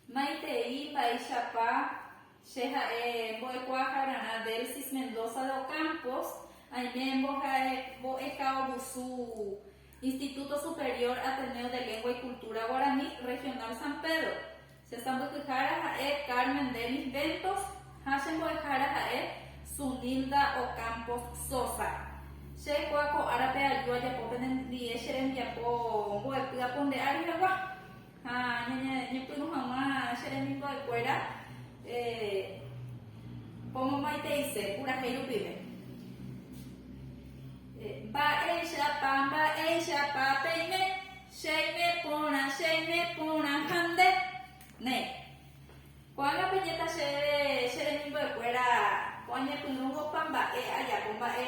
Maitei mba'eichapa che ha'e mbo'ekuaakararã Delsis Mendoza de Ocampos, aime mboha'e mbo'ekaovusu Instituto Superior Ateneo de Lengua y Cultura Guarani, Regional San Pedro. Che sãmbyhyhára ha'e Carmen Dennis Ventos ha che mbo'ehára ha'e Zunilda Ocampos Sosa. Che reko ko árape aju ajapo pende ndie che rembiapo mbo'epy apo nde ary hagua. Ha ñañepyrũ hag̃ua che remimbo'e kuéra pomomaiteise purahéi rupive. Mba'éichapa, mba'éichapa peime, cheime porã, cheime porã ha nde. Néi. Ko'ág̃a peñéta chéve che remimbo'e kuéra ko'ã ñepyrũmbopa mba'e ajapo, mba'e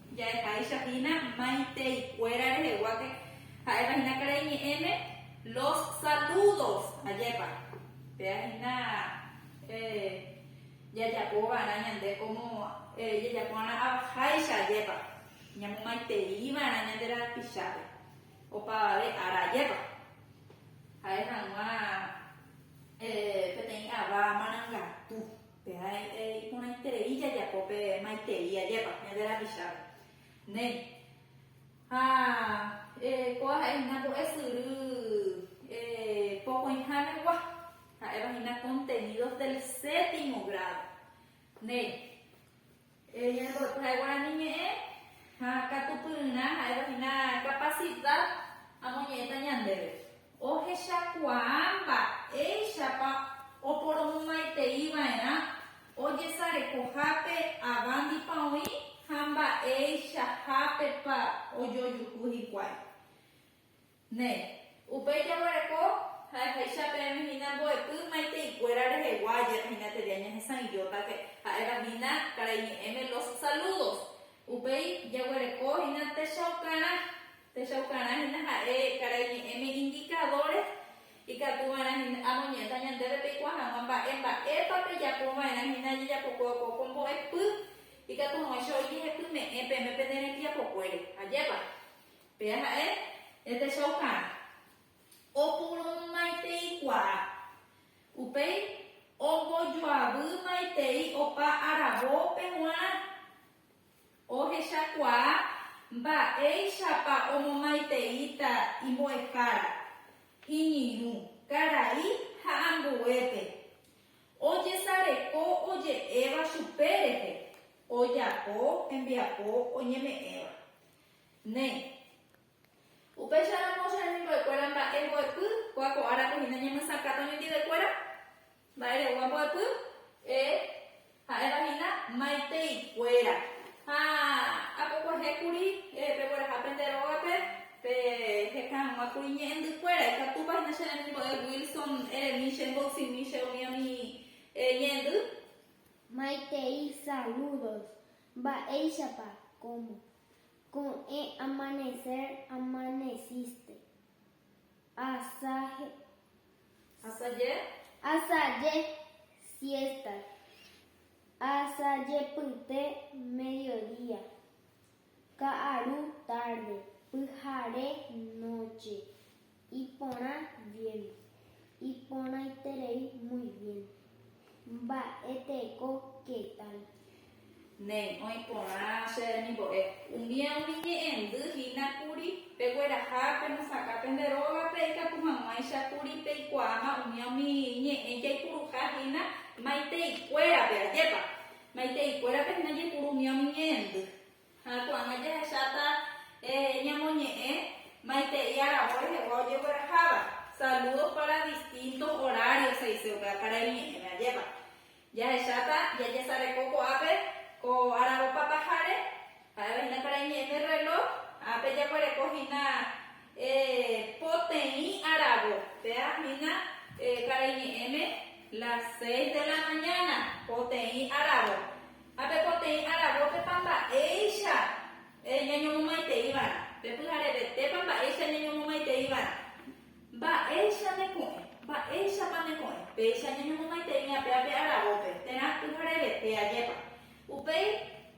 Jahecháicha hína maitei-kuéra reheguáke, ha'éva hína karai ñe'ẽme los saludos. Ajépa, péa hína jajapo va'erã ñande kómo jajapo va'erã avaháicha ajépa, ñamomaitei va'erã ñande rapichápe opavave ára ajépa. Ha'e hag̃ua peteĩ ava marangatu. Pe ae iporãiterei jajapo pe maitei ajépa ñande rapichápe. Néi. Ha koa ha'e hína mbo'e syry pokõiha regua, ha'éva hína contenidos del séptimo grado. Néi. Eñembo'ekuéra guarani ñe'ẽ ha katupyryrã ha'éva hína kapasida amoñe'ẽta ñandéve. Ohechakuaa mba'éichapa oporomomaiteiva'erã ojesarekohápe avándipa oĩ ha mba'eichahápepa ojojuhu hikuái. Ne. Upéi jaguereko ha'ehaicha peẽme hína mbo'epy maitei-kuéra rehegua ajer hína teria ñahesa'ỹijótake, ha'éva hína karai ñe'ẽme los saludos. Upéi jaguereko hína techaukarã. Techaukarã hína ha'e karai ñe'ẽme indicadores ikatu va'erã hína amoñe'ẽta ñandéve peikuaa hag̃ua mba'e mba'épa pejapo va'erã hína jejapokue opoko mbo'epy ikatu hag̃uáicha oijehepyme'ẽ peẽme pende rembiapokuére. Ajépa. Péa ha'e, epechaukarã, opurũmaiteikuaa. Upéi ombojoavýmaitei opa aravópe g̃uarã. Ohechakuaa mba'éichapa omomaiteíta imbo'ehára, iñirũ, karai ha ambuépe. Ojesareko oje'éva chupe rehe, ojapo hembiapo oñeme'ẽva. Néi. Upéicharamo, che remimbo'ekuéra, mba'e mbo'epy, kua ko árape hína ñemyesakã temimbi'ekuéra, mba'e re'úva mbo'epy, e, ha'éva hína maitei kuéra. Ha apokuaje kuri pegueraha pende rógape, pe hekã hag̃ua kuri ñe'ẽndy kuéra, ikatúpa hína che remimbo'e Wilson, eremi che mboysimi che umi ami ñe'ẽndy. Maitei saludos. Mba'éichapa, cómo, ko'ẽ amanecer amaneciste, asaje. Asaje. Asaje siesta, asajepyte mediodía, ka'aru tarde, pyhare noche. Iporã bien. Iporãiterei muy bien. Mba'e teko qué tal. Néi, oĩ porã che remimbo'e. Umía umi ñe'ẽndy hína kuri, Pegueraha penosakã pende rógape ikatu hag̃uáicha kuri peikuaáma umía umi ñe'ẽ jaipuruha hína maitei kuérape. Ajépa! Maitei kuérape hína jaipuru umía umi ñe'ẽndy. Ha ko'ág̃a jahecháta ñamoñe'ẽ maitei aravo rehegua ojegueraháva. Saludos para distintos horarios he'ise upe ápara iñe'ẽme ajépa. Jahecháta jajesareko ko'ápe ko aravo pataháre, ha'éva hína para iñe'ẽme reloj, ápe jaguereko hína poteĩ aravo, péa hína para iñe'ẽme las seis de la mañana, poteĩ aravo. Ha pepoteĩ aravópepa mba'éicha ñañomomaitei va'erã, pe pyharevetépa mba'éicha ñañomomaitei va'erã. Mba'éicha ne ko'ẽ, mba'éichapa ne ko'ẽ, péicha ñañomomaitei ñapéva pe aravópe, térã pyharevete ajépa. Upéi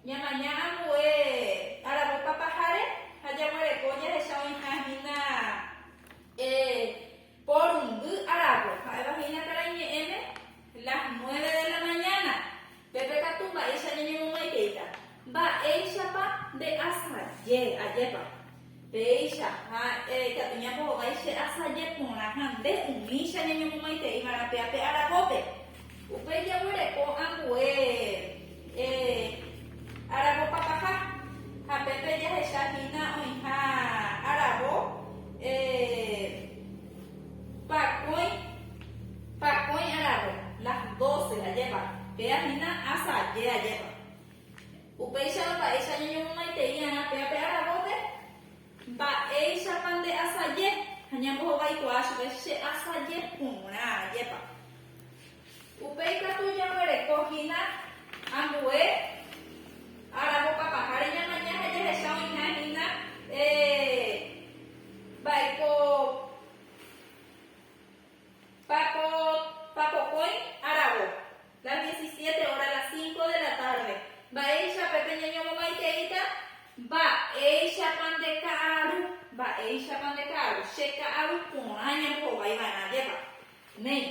ñamaña ambue aravópa paháre ha jaguereko jahecha oĩha hína porundy aravo, ha'éva hína karaiñe'ẽme las nueve de la mañana. Pepe katu mba'éicha ñañemomaiteita. Mba'éichapa nde asaje, ajépa. Péicha, ha eh, ikatu ñapo hovái che asaje porã ha nde umícha ñañemomaitei va'erã pe ape arapópe. Upéi jaguereko ambue eh, arapo papaha. Ha pépe jahecha hína oĩha arapo eh. Pakõi, pakõi aravo, las doce ajépa, péa hína asa aje ajépa. Upéicharõ mba'éicha ñañomomaiteí'arã péa pe aravópe? Mba'éichapa nde asaje? Ha ñambohovaikuaa chupe, Che asaje porã ajépa. Upéi katu jaguereko hína ambue aravopa paháre ñamaña ha jahecha oĩha hína mba'éiko papokõi aravo, las diecisiete hora, las cinco de la tarde, mba'éicha pe peñeñomomaiteíta, mba'éichapa nde ka'aru, mba'éichapa nde ka'aru, che ka'aru porã ñambohovái va'erã ajépa, Néi.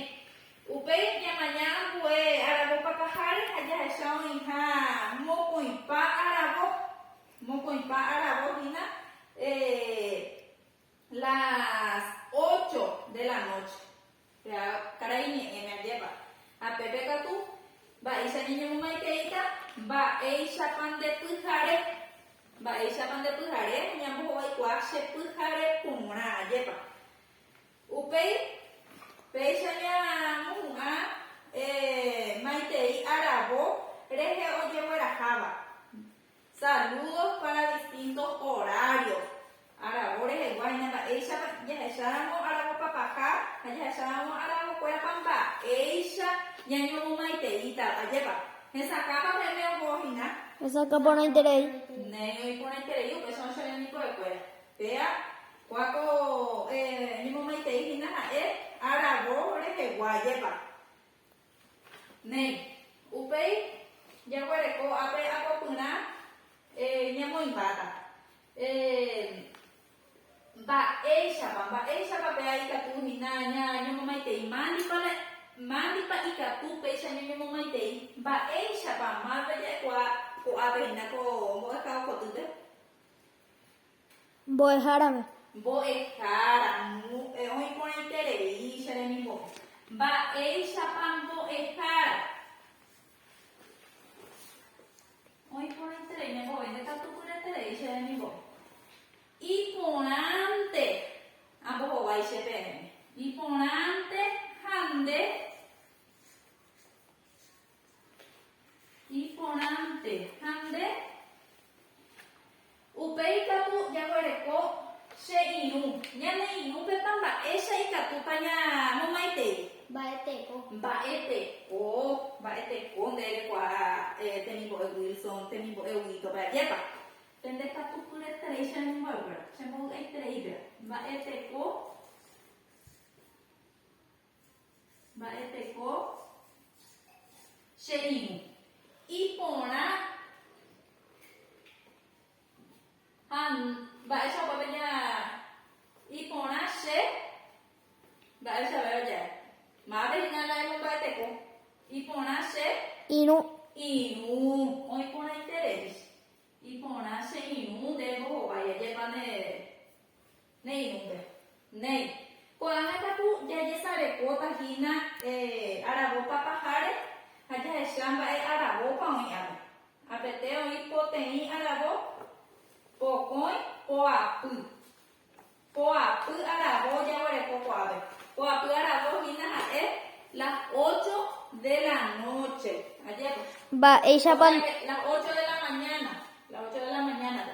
Upéi ñamaña ambue aravo papaháre ha jahecha oĩha mokõipa aravo, mokõipa aravo hína las ocho de la noche. Péa karai ñe'ẽme ajépa. Ha pépe katu mba'éicha ñañemomaiteíta mba'éichapa nde pyhare, mba'éichapa nde pyhare, ñambohovaikuaa che pyhare porã ajépa. Upéi, péicha ñamohu'ã maitei aravo rehe ojegueraháva, Saludos para distintos horarios, aravo rehegua hína mba'éichapa jahecháramo aravopapaha ha jahecháramo aravokuérapa mba'éicha ñañomomaiteítarõ. Ajépa, hesakãpa meme oho hína? Hesakã porãiterei. Néi oĩ porãiterei, upéicharõ che rembiguekuéra. Péa. Kuáko ñemomaitei hína ha'e aravo rehegua jepa. Néi. Upéi jaguereko ápe apopyrã ñamoĩmbáta. Mba'éichapa, mba'éichapa pe a ikatu hína ñamomaitei, mándipa ikatu péicha ñañemomaitei, mba'éichapa mávapa ja'ekuaa ko'ápe hína ko mbo'ehao kotýpe. Mbo'ehárape. Mbo'ehára, Mbo'e oĩ porãiterei che remimbo'e. Mba'éichapa mbo'ehára oĩ porãiterei ñembo'e. Ndekatupyreterei che remimbo'e. Iporãnte ambohovái che peẽme. Iporãnte ha nde. Iporãnte. Ha nde? Upéi katu jaguereko che irũ. Ñane irũpepa mba'éicha ikatúpa ñamomaitei? Mba'eteko. Mba'eteko. Mba'eteko nde rekuaa temimbo'e Wilson, temimbo'e Huguito pe ajépa. Pende katu pyeterei che remimbo'e péva, che mbovy'aiterei péva. Mba'eteko. Mba'eteko che irũ. Iporã ha mba'éichapa peja iporã che mba'éicha véva jae. Mápe hína la emomba'eteko. Iporã che irũ. Irũ. Oĩporãiterei. Iporã che irũ nde mbohovái. Ajépa nde. Néi irũngue. Néi. Ko'ág̃a katu jajesarekóta hína aravópa paháre ha jahecha mba'e aravópa oĩ ápe. Apete oĩ poteĩ aravo, pokõi, poapy. Poapy aravo jaguereko ko'ápe. Poapy aravo hína ha'e las ocho de la nóche. Ajépa. Mba'éichapa. Las ocho de la mañana. Las ocho de la mañana-pe.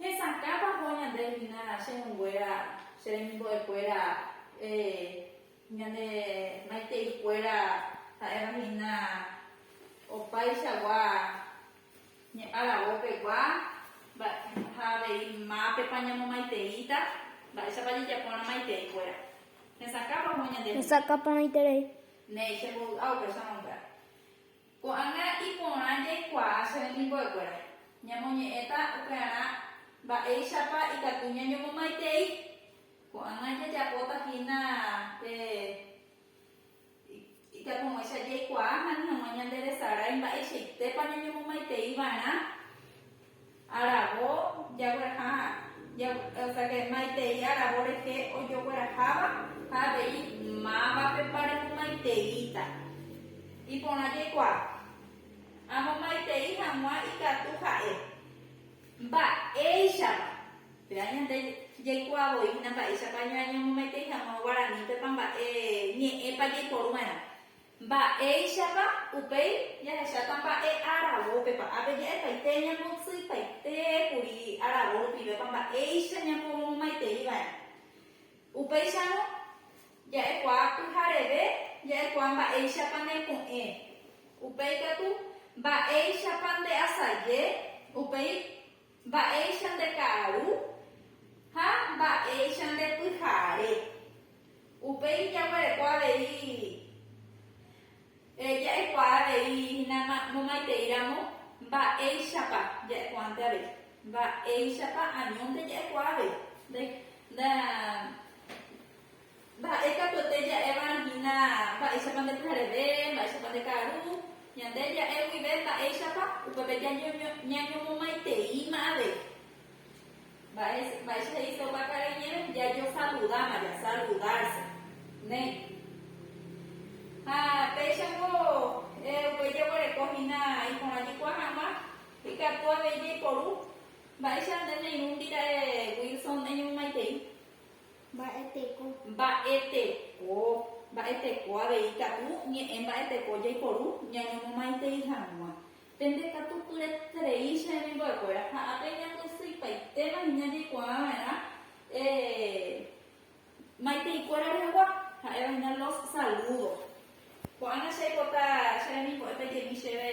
Hesakãpa po ñande hína che hũnguéra, che remimbo'ekuéra, ñane maiteikuéra ha'éva hína opáichagua ñe'aravópegua ha avei mápepa ñamomaiteíta, mba'éichapa jejapórã maiteikuéra. Hesakãpa po ñande hína. Hesakãporãiterei. Néi, chembovy'a upéicharõ upéva. Ko'ág̃a iporã jaikuaa che remimbo'ekuéra. Ñamoñe'ẽta upearã mba'éichapa ikatu ñañomomaitei. Ko'ág̃a jajapóta hína pe ijapog̃uicha jaikuaa ha ni hag̃ua ñanderesarái mba'eichaitépa ñañomomaitei va'erã. Aravo jagueraha jagueraha maitei aravo rehe ojogueraháva ha avei mávapepa remomaiteíta. Iporã jaikuaa amomaitei hag̃ua ikatu ha'e. Mba'éichapa? Péva ñande jaikuaa voína mba'éichapa ñañemomaitei hag̃ua guaranípepa mba'e ñe'ẽpa jaiporu va'erã. Mba'éichapa upéi jahecháta mba'e aravópepa? Ápe ja'epaite ñambotsypaite kuri aravo rupivépa mba'éicha ñapomomaitei va'erã. Upéicharõ, ja'ekuaa pyhareve ja'ekuaa mba'éichapa neko'ẽ. Upéi katu, mba'éichapa ndeasaje upéi. Mba'éicha nde ka'aru ha mba'éicha nde pyhare. Upéi jaguereko avei ja'ekuaa avei hína momaitei ramo mba'éichapa ja'ekuaánte avei, mba'éichapa añónte ja'ekuaa avei. Nda, nda, Mba'e katuete ja'éva hína mba'éichapa nde pyhareve, mba'éichapa nde ka'aru. Ñande ja'e guive mba'éichapa, upépe ñañomomaiteíma avei. Mba'e, mba'éicha he'i Jehová ka'are iñe'ẽme? Jajosaludáma, jasaludárse. Néi. Ha péichako upéi jaguereko hína iporã jaikuaa hag̃ua, ikatu avei jaiporu. Mba'éicha nde neirũndi ra'e Wilson eñomomaitei? Mba'e teko. Mba'e teko. Mba'e teko avei ikatu ñe'ẽ mba'e teko jaiporu ñañomomaitei hag̃ua. Pende katu pyreterei che remimbo'ekuéra ha ápe ñapysyipaitema hína jaikuaa va'erã maiteikuéra rehegua, ha'éva hína los saludo. Ko'ág̃a che aipota che remimbo'e pejemi chéve.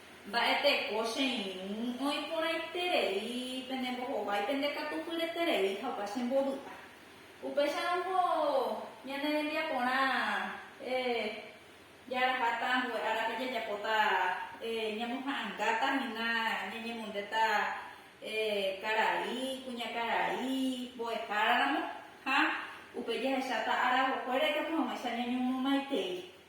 Mba'eteko che irũ oĩ porãiterei pene mbohovái, pende katu pyreterei ha opa che mbovy'a. Upéicharõ oho ñane rembiaporã jaraháta ambue árape jajapóta ñamoha'ãngáta hína ñañemondéta karai, kuñakarai, mbo'ehára ramo ha upe jahecháta ára vokue ra'e katu hag̃uáicha ñañomomaitei.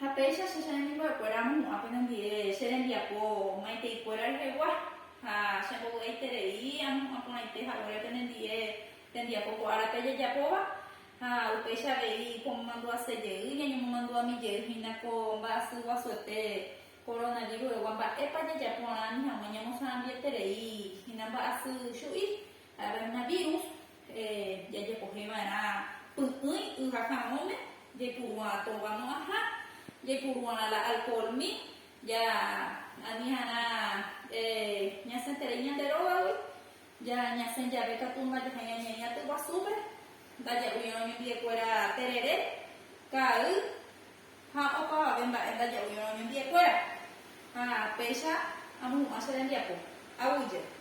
Ha péicha che chanemimbo'ekuéra amohu'ã penendive che rembiapo maitãikuéra rehegua, ha chembovy'aiterei amohu'ã porãite haguére penendive tembiapo ko ára pejejapóva, ha upéicha avei pomomandu'ase jey ñañomomandu'ami jey hína ko mba'asy guasuete koronavírus'egua mba'épa jajaporã ani hag̃ua ñamosãambieterei hína mba'asy chu'i Coronavirus jajepohe va'erã py'ỹi yvakãmóme jaipuru'ã tóvamo aha, jaipuru'ã la alcoholmi, ja aniharã ñasẽterei ñande rógagui, ja ñasẽ jave katu ndajahai'ã ñaĩ aty guasúpe, ndaja'uirõ ñembi'ekuéra terere, ka'ay ha opavave mba'e ndaja'uirõ ñembi'ekuéra. Ha péicha amohu'ã che rembiapo, aguyje.